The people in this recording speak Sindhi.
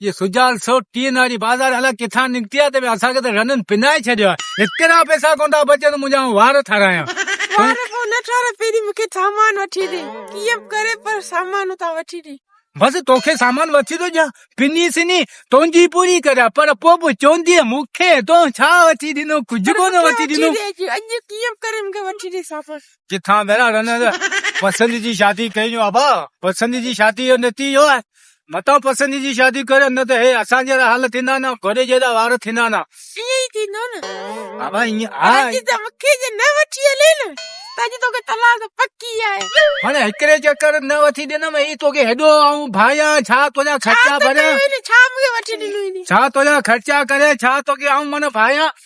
اهي سجال سو ٽين واري بازار الاء ڪٿان نڪتي آ ته ويا اسان کي ته رنن پنائي ڇڏيو آ هترا پئسا ڪون ٿا بچن منهنجا آئون وار ٺارايان وار ڪون نه ٺارا پهري مونکي سامان وٺي ڏي ڪيئن به ڪري پر سامان اتان وٺي ڏي بس توکي سامان وٺي ٿو ڏيان پني سني تنهنجي پوري ڪريان پر پو به چوندي مونکي تو ڇا وٺي ڏنو ڪجھ ڪون وٺي ڏنو اڄ ڪيئن به ڪري مونکي وٺي ڏي سامان ڪٿان ڀيرا رنن پسند جي شادي ڪئي جو ابا پسند جي شادي جو نتيجو آ متان پسندي جي شادي ڪريو نه ته هي اسان جهڙا حال ٿيندا نه گهوڙي جهڙا وار ٿيندا نه ائين ئي ٿيندو نه بابا ائين ها جي ته مونکي جي نه وٺي هلي نه ته اڄ توکي طلاق پڪي آهي هاڻي هڪڙي چڪر نه وٺي ڏنم اي توکي هيڏو آئون ڀايا ڇا تنهنجا خرچا ڀريا ڇا مونکي وٺي ڏنو ڇا تنهنجا خرچا ڪريا ڇا توکي آئون من ڀايا